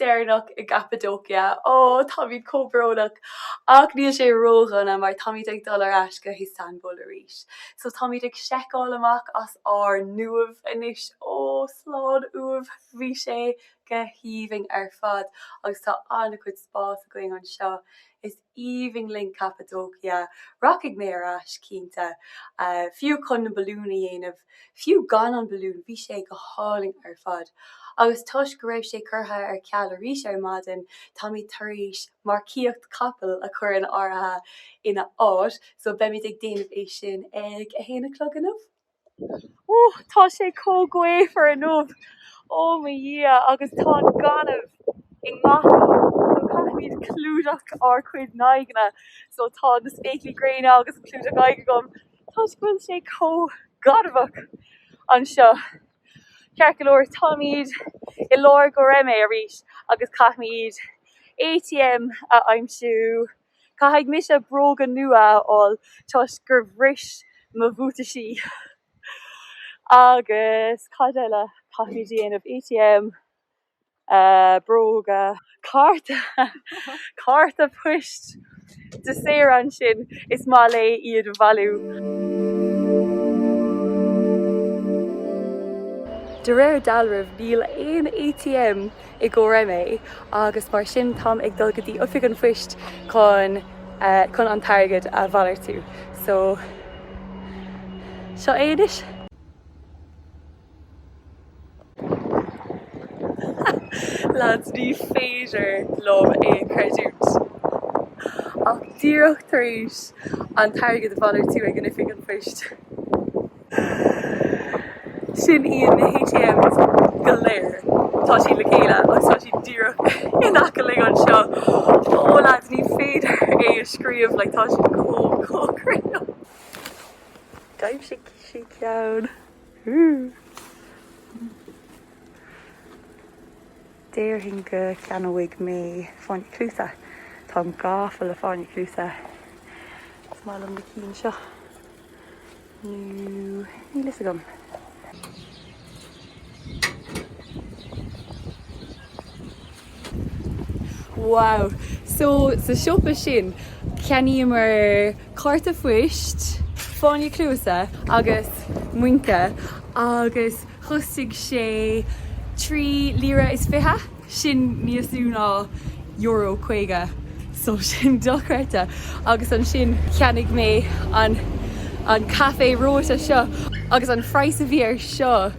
deireanach i gCappadocia. Ó, táimid chomh brónach! Ach níl sé ródhona mar táimid ag dul ar ais go hIostanbúl arís. So táimid ag seiceáil amach as ár n-uaimh anois. Ó, slán uaimh! Bhí sé go haoibhinn ar fad agus tá an-chuid spáis againn anseo. Is. aoibhinn linn Cappadocia, rachaidh mé ar ais, cinnte, fiú chun na balúin a dhéanamh, fiú gan an balún, bhí sé go hálainn ar fad. Agus toisc go raibh sé curtha ar ceal arís ar maidin, táimid tar éis marcaíocht capaill a chur in áirithe ina áit, so beimid ag déanamh é sin ag a haon a chlog now. Ó, tá sé chomh gaofar inniu! Ó mo Dhia, agus tá an gaineamh i ngach áit, so caithfimid clúdach ár gcuid n-aghaidheanna, so tá na spéaclaí gréine agus an clúdach aghaidh agam, toisc go bhfuil sé chomh gainmheach anseo. Ceart go leor, táimid i lár Goreme arís agus caithfimid ATM a aimsiú. Caithfidh mise bróga nua a fháil toisc gur bhris mo bhuataisí. Agus cad eile? Caithfimid a dhéanamh ATM, bróga, cárta, cárta poist do Saoirse, is maith léi iad a bhailiú. De réir dealraimh níl aon ATM i nGoreme agus mar sin táim ag dul go dtí Oifig an Phoist chun an t-airgead a mhalartú so seo é anois. Lads, ní féidir liom é a chreidiúint ach díreach tar éis an t-airgead a mhalartú ag an Oifig an Phoist, Sin iad na h-ATMs go léir. Tá siad le chéile agus tá siad díreach in aice linn anseo. Ó lads, ní féidir é a scríobh, like tá siad chomh cóngarach. D'aimsigh sí ceann. Déarfainn go gceannóidh mé fáinní cluasa. Táim gafa le fáinní cluasa. Is maith liom na cinn seo. Nú, níl fhios agam. Wow! So, sa siopa sin, cheannaíomar cárta poist, fáinní cluasa agus muince agus chostaigh sé trí líre is fiche. Sin níos lú ná Euro 50 so sin dochreidte! Agus ansin cheannaigh mé an an caife reoite seo agus an phraghas a bhí air seo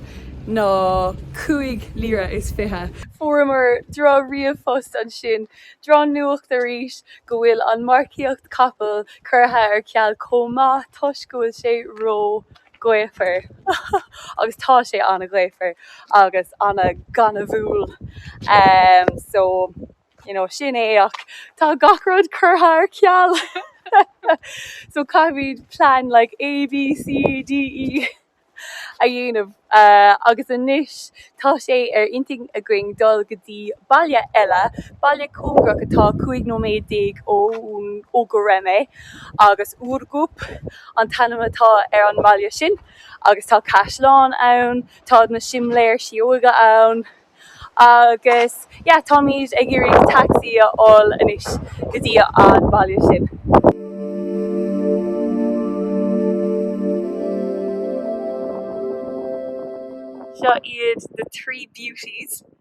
ná cúig lira is fiche. Fuaireamar droch ríomhphost ansin, droch nuacht arís, go bhfuil an marcaíocht capall curtha ar ceal chomh maith toisc go bhfuil sé ró gaofar agus tá sé an-ghaofar agus an-ghainmhiúil em so you know sin é ach tá gach rud curtha ar ceal so caithfimid plean like A, B, C, D, E a dhéanamh eh agus anois tá sé ar intinn againn dul go dtí baile eile, baile cóngarach atá cúig nóiméad déag ó Göreme. agus Ürgüp an t-ainm atá ar an mbaile sin agus tá caisleán ann, tá na simléir síóige ann agus yeah táimid ag iarraidh taxi a fháil anois go dtí an baile sin. Seo iad the three beauties.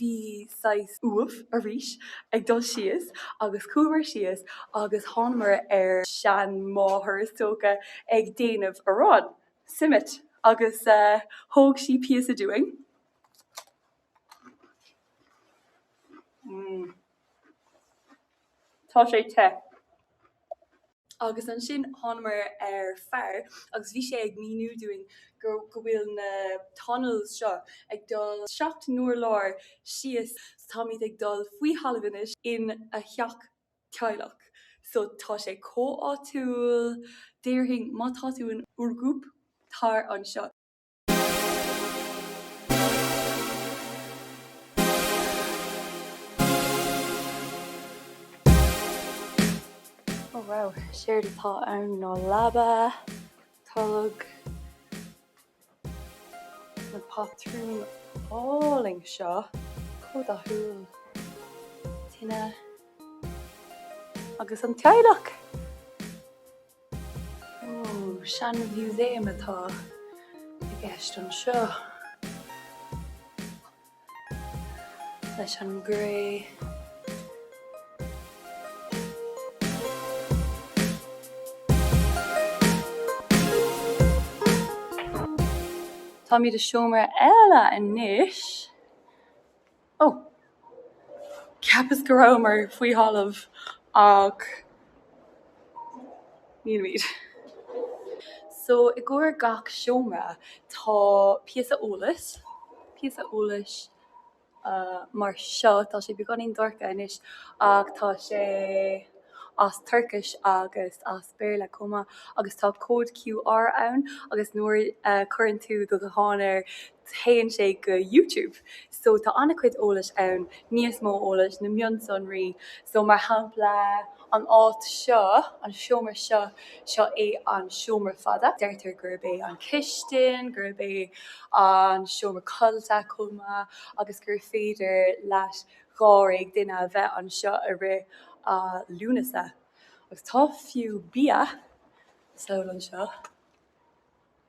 bhí saghas uaimh arís ag dul síos agus chuamar síos agus thánamar ar seanmháthair is dócha ag déanamh arán simit agus thug sí píosa dúinn tá sé te. Agus ansin thánamar ar fear agus bhí sé ag míniú dúinn gur, go bhfuil na tunnels seo ag dul seacht n-urlár síos so táimid ag dul faoi thalamh anois ina theach teaghlach so tá sé chomh áitiúil, déarfainn má tá tú in Ürgüp, tar anseo. Oh wow, séard atá ann ná leaba, tolg, na patrún álainn seo, chomh dathúil, tine, agus an teaghlach! Seanmhúsaem atá i gceist anseo leis an gcré. Táimid i seomra eile anois. Ó! Cheapas go rabhamar faoi thalamh ach nílimid. So i gcomhair gach seomra tá píosa eolais, píosa eolais mar seo, tá sé beagáinín dorcha anois ach tá sé as Tuircis agus as Béarla chomh maith agus tá cód QR ann agus nuair a chuireann tú do ghuthán air théann sé go YouTube so tá an-chuid eolais ann, níos mó eolais, na mionsonraí so mar shampla an áit seo, an seomra seo, seo é an seomra fada, deirtear gurb é an cistin, gurb é an seomra codlata chomh maith agus gur féidir le dháréag duine a bheith anseo i rith an lae agus tá fiú bia, saol anseo.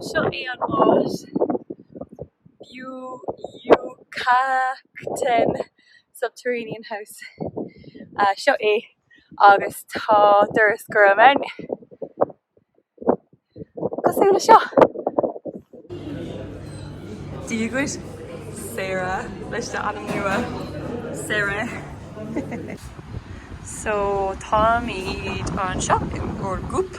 So seo é an áit. B'fhiú fhiú Captaen Subterranean House. Seo é agus tá doras gorm ann. cosúil le seo. D'íograis Sarah leis an ainm nua, Sarah. So, táimid anseo in Ürgüp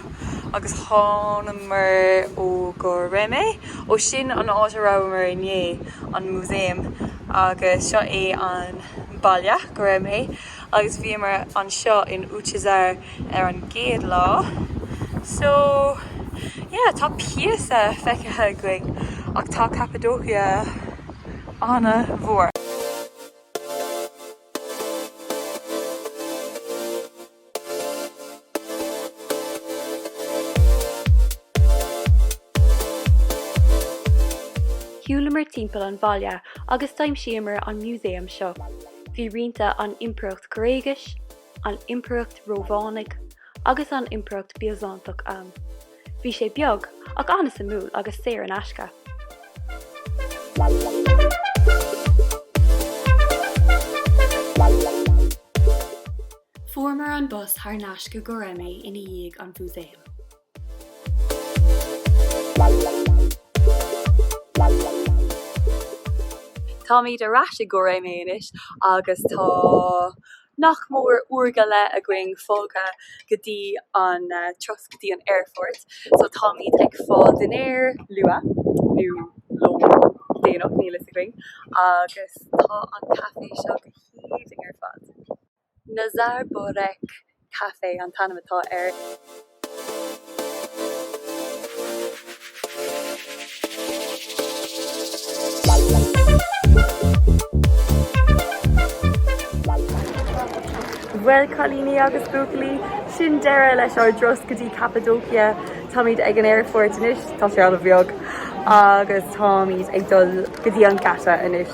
agus thánamar ó Göreme, ó sin an áit a rabhamar inné, an músaem agus seo é an baile Göreme. Agus bhíomar anseo in Uçhisar ar an gcéad lá. So, yeah, tá píosa feicthe againn ach tá Cappadocia an-mhór. Shiúlamar timpeall an bhaile agus d'aimsíomar an músaem seo. Bhí rianta an Impireacht Ghréigis, an Impireacht Rómhánaigh agus an Impireacht Biosántach ann. Bhí sé beag ach an-suimiúil agus saor in aisce. Fuaireamar an bus thar n-ais go Göreme ina dhiaidh an Mhúsaeim. Táimid ar ais i Göreme anois agus tá nach mór uair go leith againn fágtha go dtí an turas go dtí an aerfort so táimid ag fáil dinnéir luath nó lón déanach, níl a fhios againn agus tá an caifé seo go haoibhinn ar fad. Nizar Burek Café an t-ainm atá air. Bhuel, cailíní agus buachaillí, sin deireadh leis ár dturas go dtí Cappadocia. Táimid ag an aerfort anois, tá sé an-bheag, agus táimid ag dul go dtí an geata anois.